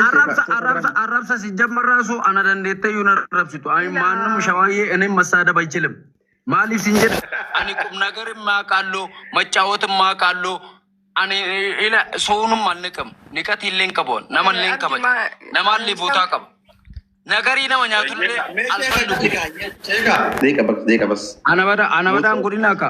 arrabsa si jammarraa soo ana dandeettee yuun arrabsitu ani maannum shawaayyee inni massaada bachilim maaliif sin jedha ani qubnagar immaa qaalloo maccaawot immaa qaalloo ani ila soonum malli qam niqati illee hin qabu nama illee hin qaba nama illee bootaa qaba nagarii nama nyaatu illee alfan dhugu Deeqa bas, deeqa bas. ana bada ana badaan godina akka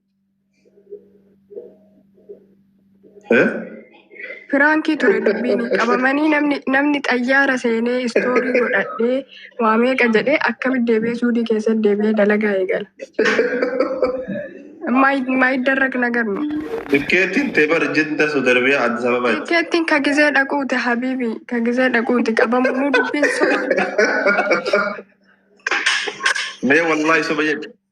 Firaankii ture dubbiin qabamanii namni namni xayyaara seenee istoorii godhadhee waa meeqa jedhee akkamitti deebi'ee suudii keessatti deebi'ee dalagaa eegala. Maayiddarraq nagar nu. Tikkeetiin teebar jidda sudarbiya Addis Ababa. Tikkeettiin ka gizee dhaquuti habiibi ka gizee dhaquuti qabamu nu dubbiin soba. Mee wallahi soba jedhe.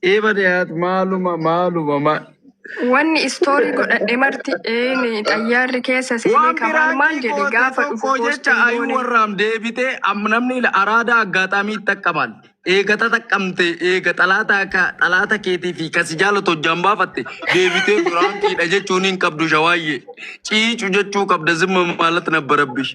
Iba dehat maluma maluma ma. Wanni istoorii godhadhe marti eeni xayyaarri keessa seenee Waan kamaal biraa maal jedhe gootee gaafa dhufu tokko poostii jecha ayuu goone. warraam deebitee amma namni ila araadaa aggaataamii xaqqamaan eegata xaqqamte eega xalaata akka xalaata keetii fi kasi jaalatu hojjaan baafatte deebitee biraankiidha jechuun hin qabdu shawaayyee ciicu jechuu qabda zimma maalat nabba rabbish.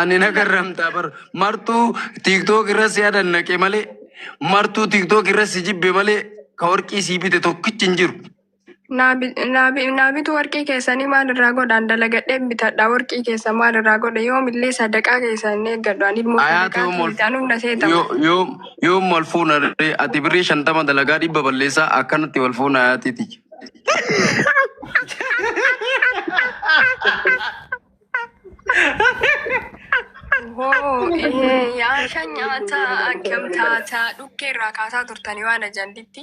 Ani na garramtaa bar martuu tiktok irra si adannaqe malee martuu tiktok irra si jibbe malee ka warqii sii bite tokkichi hin jiru. Naabitu warqii keessanii maal irraa godhaan dalagadhee bitadha warqii keessa maal irraa godhe yoomillee sadaqaa keessa hin eeggadhu ani immoo Ayaatu sadaqaa yoom ol keessaan humna seeta yo- yoom yoom wal fuuna ree ati birrii shantama dalagaa dhibba balleessaa akkanatti wal fuuna ayaatiiti. Hoo ehee yaasha nyaataa akkam taataa dhukkee irraa kaasaa turtanii waan ajanditti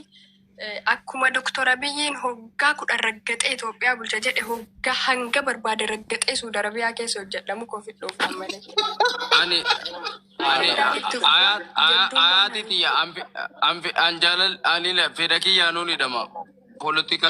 akkuma doktora biyyiin hoggaa kudhan raggaxee Itoophiyaa bulcha jedhe hoggaa hanga barbaade raggaxee Suudi Arabiyaa keessa hojjedhamu kofi dhuunfaan malee. Ani ani ayaati tiyya an jaalal ani fedha kiyyaa nuun hidhama politika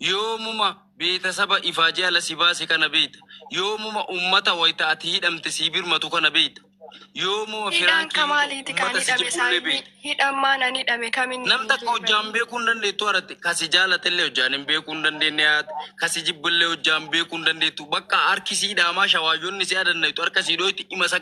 Yoomuma beetasaba ifaajee ala si baase kana beekta? Yoomuma ummata wayta ati hidhamte sii birmatu kana beekta? Yoomuma Hidhaan firaan kee hidhu kamaaliiti kaan ummata si hidhame jibbu illee saayinni? beekta? Hidhaan maan an hidhame kam inni Nam hin takka hojjaan beekamne? beekuu hin dandeettu haratti. Ka si jaalatellee hojjaan hin beekuu hin dandeenne haat. Ka si jibbillee hojjaan beekuu hin dandeettu. Bakka harki sii dhaamaa shawaayyoonni si adannayxu harka sii dhooyti ima isa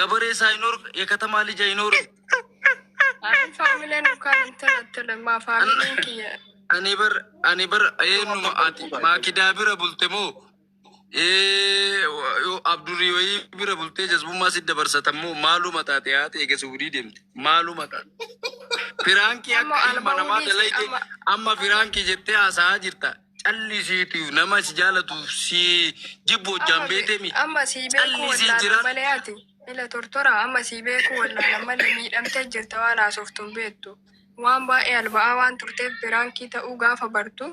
Gabaree isaa hin horga eekatamaa lija hin horga. Ani faamileen ukaan intala intala maa faamileen kiyya. Ani bar ani bar eenyuma ati maakidaa bira bulte moo ee abdurii wayii bira bultee jazbummaa si dabarsatan moo maaluma taate haati eega suudii deemte maaluma taate. Firaankii Amma akka ilma alba namaa waliiti, dalayde amma- amma firaankii jettee haasa'aa jirta. Callisiitii nama si jaalatuuf si jibbu hojjaan Amma beekte mi? amma sii beeku Callisii wallaalan jiraadhu. malee ati ila tortora amma sii beeku wallaalan malee miidhamtee jirta waan haasoftu hin beektu. Waan baay'ee alba'aa waan turteef biraankii ta'uu gaafa bartu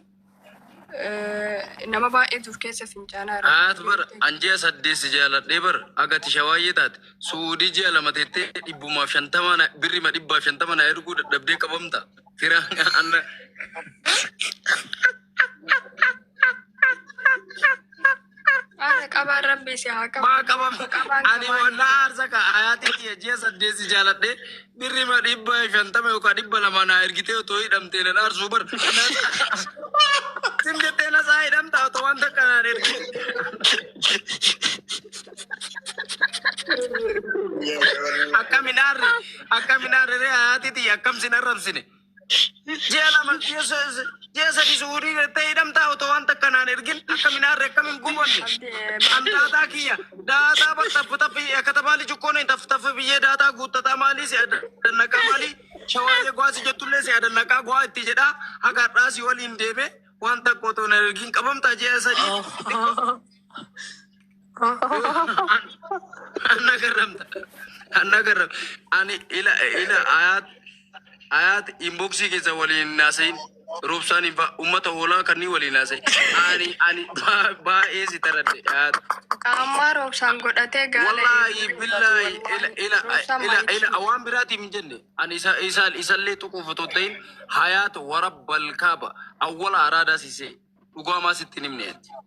eh, nama baay'eetu of keessa fincaanaa jira. Haat bar an ji'a saddeet si jaaladhee bar aga tisha waayee taate suudii ji'a lama teettee dhibbumaaf shantama na- birrima dhibbaaf shantama na erguu dadhabdee qabamta. Fira anna Haadha qabaan rabbi si haa qabu. maa qabam Qabaan ani qabaan. wallaa aarsa ka ayaatii kiyya ji'a saddeeti jaaladhe birri ma dhibba shantama yookaan dhibba lama naa ergitee otoo hidhamtee nan aarsuu bar sin jettee nasaa hidhamta otoo waan takka naan ergite akkami naarre Akkam hin aarree haati tiyya akkam sin arrabsine. Ji'a lama ji'a sa- ji'a sadi suudii jettee hidhamtaa otoo waan takka naan ergin akkam hin aarree akkam hin gubonne. An daataa kiyya daataa bar taffi taffi katabaa lijukkoon hin taffi taffi biyyee daataa guuttataa maalii si adannaqaa maalii shawaayee gwaa si jettullee si adannaqaa gwaa itti jedhaa haga har'aa si waliin deeme waan takka otoo naan ergin qabamtaa ji'a sadii. Anna garramta. Anna garram. Ani ila ila ayat ayat inboxii keessa waliin naasayin. Roobsaan hin fa'a uummata hoolaa kanneen waliin naasayin. Ani ani baa- baay'ee si taradde ayat. Qaammaa roobsaan godhatee gaala Wallaahi eeguun billaahi dubbatu, ila wallaahi. ila Roobsaan ila maaliif ila waan biraatiif hin jenne. Ani isa isa isallee tuquuf otoo hin ta'in hayaat warabbal kaaba awwala araadaa siisee dhugaa maa sitti hin himne.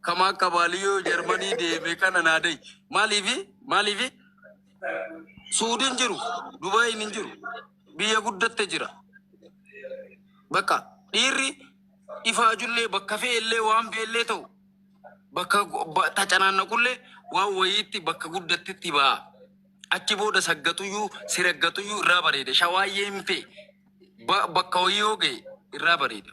kama akka baaliyo jarmanii deeme kana naa dayi maaliifi maaliifi suudin jiru dubaayin hin jiru biyya guddatte jira bakka dhiirri ifaajullee bakka fe'ellee waan fe'ellee ta'u bakka go- ba- tacanaannaqullee waan wayiitti bakka guddattetti ba'a achi booda saggatuyyuu siraggatuyyuu irraa bareeda shawaayyeen fee ba- bakka wayii yoo ga'e irraa bareeda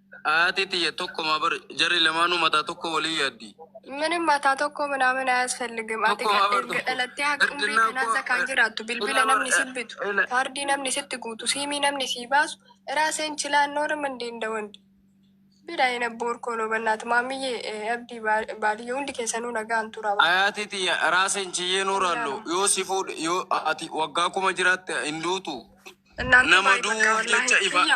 Haati tiyya tokkuma bar jarri lamaanuu mataa tokkoo waliin yaaddi. Minim mataa tokkoo minaamin ayasfelligim ati Tokkuma kan bar erga tokko. dhalattee haga umrii Erginnaa kanaa koo- zakaan jiraattu bilbila Ila- namni si bitu Ila- kaardii namni sitti guutu siimii namni sii baasu iraa seen chilaan noorim hin deenda wandi bira hin abboor koo no bannaat maammiyye eh, abdii baal- baaliyyee hundi keessanuu nagaan tura Haati tiyya raaseen chiyyee nuuraallu yoo si fuudhe yoo ati waggaa kuma jiraatte hin duutu. እናንተ Nama ባይ በቃ du'uuf ወላሂ jecha ifa- ያ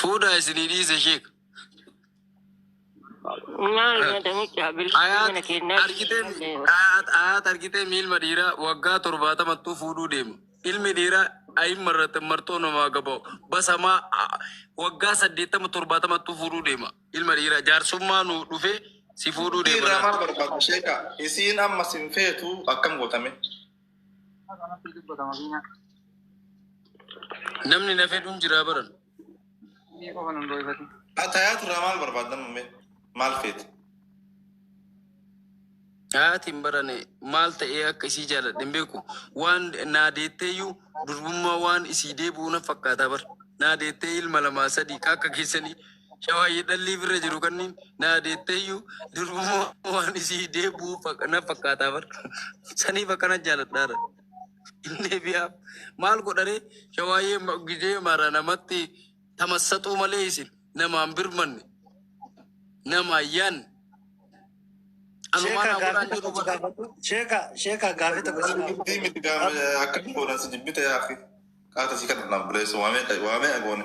Fuudhaa isinii dhiise sheek. Maal nyaata mucaa bilisa mana Ayaat keenyaa argitee ayaat ayaat argitee miilma dhiiraa waggaa torbaatamattuu fuudhuu deema. Ilmi dhiiraa ayimma irratti martoo namaa gaba'u basamaa a- waggaa saddeettama torbaatamattuu fuudhuu deema. Ilma dhiiraa jaarsummaa nu dhufee si fuudhuu deema. Irraa maal barbaaddu sheeka? Isiin amma sin feetu akkam gootame? Namni na fedhuun jiraa baran. Ni qofa nun dhoofati. Atayaa turraa maal barbaaddan ummee? Maal feete? Haati hin barane maal ta'ee akka isii jaaladhe hin beeku. Waan naa deetteeyyuu durbummaa waan isii deebi'uu na fakkaataa bar. Naa deettee ilma lamaa sadii ka akka keessanii Shawaayyee dhallii birra jiru kanniin naa deetteeyyu durbumoo waan isii deebuu fak- na fakkaataa bar. Saniif akkana jaaladhaara. Hin deebi'aa. Maal godharee shawaayyee ma- gizee mara namatti tamassaxuu malee isin namaan birmanne namaan yaanne. Anumaa naa godhaan jedhu bar. Sheeka sheeka gaafii tokko si gaafadhu. Dubbii miti gaama akka goona si jibbite yaafi. Qaata si kana naan buleessu waamee waamee agoone.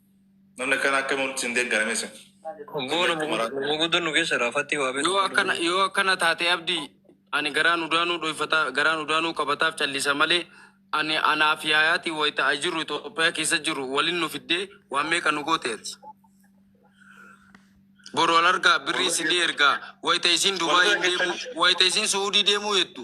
Namni akkana akka mul'atu hin deeggara mee isin. Goona muguddan nu keessa dha. Fattii waa Yoo akkana beeku. yoo akkana taate abdii ani garaan udaanuu dhoyfata garaan udaanuu qabataaf callisa malee ani anaaf yaayaatiin wayita a jiru Itoophiyaa keessa jiru walin nu fiddee waan meeqa nu goote ati. Boru al argaa birrii isinii ergaa wayita isiin Dubaayii deemuu wayita isiin Suudii deemuu jettu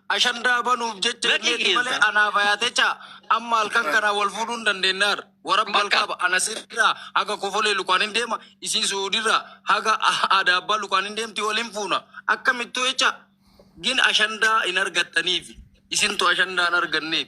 Ashandaa banuuf jecha Lakki illeetti keessa. malee anaa fayaatecha amma halkan kanaa wal fuudhuu hin dandeenyaar. Warabbi Bakka. alkaaba ana sirraa haga kofolee lukaan hin deema isii su'uudirraa haga aadaa abbaa lukaan hin deemti wal hin fuuna akkamittuu jecha gin ashandaa hin argattaniif isintu ashandaa hin arganneef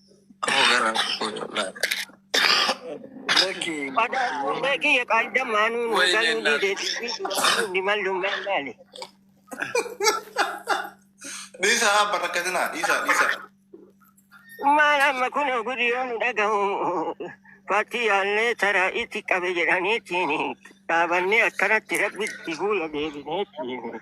Ammoo garaa koo laata. Lakki Badhaadhummaa kiyya qaayda maanuun Wayinee galuu laata. dideetti ni mallummaa ilaali. Dhiisaa abba rakkatinaa dhiisaa dhiisaa. Maal amma kun gudi yoo nu dhagahu paartii yaallee taraa itti qabe jedhaniitiin dhaabannee akkanatti rabbitti fuula deebineetiin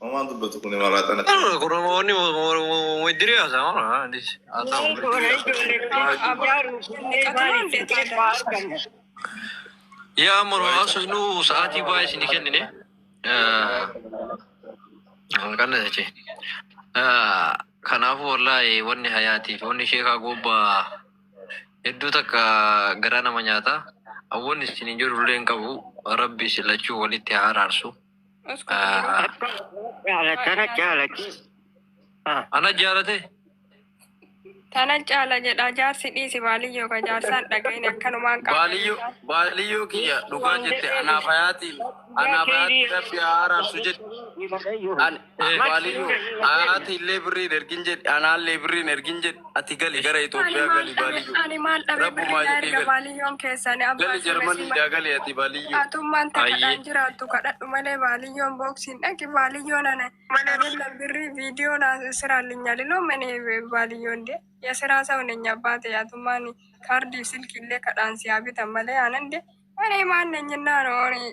Homaa dubbatu kun maraa tana. Allora, con ogni vuoi dire a Samara? Dici, a Samara. Yaa moro asu nu sa'aatii baay'ee isin kennine. Kana jechi. Kanaafuu wallaahi wanni hayaatii fi wanni sheekaa gobbaa hedduu takka garaa nama nyaata. Awwanni isin hin jirullee hin qabu. Rabbi isin lachuu walitti haa araarsu. Tana jaalatti. Ana jaalate. Tana caala jedha jaarsi dhiisi baaliyyoo ka jaarsaan dhagahin akkanumaan qaba. Baaliyyoo baaliyyoo kiyya dhugaa jette anaaf hayaatiin anaaf hayaatiin rabbi haa araarsu jette. An Baaliyyu haati illee birrii hin ergin jedhi anaallee birrii hin ergin jedhi ati gali gara Itoophiyaa gali baaliyyu. Ani maal dhabe Rabbumaa birrii jedhii erga gali. baaliyyoon keessani abbaa Gali Jarmanii sirreessi daa gali ati baaliyyu. Atummaan takka Ayyee. kan jiraattu kadhadhu malee baaliyyoon booksiin dhaqi baaliyyoon ana Adeemna birrii viidiyoo naa siraa linyaliloo mani baaliyyoon de ya siraa sa hunenya baate atummaan kaardiif silkiillee kadhaan siyaa bitan malee aanan de ani maanne nyinnaanooni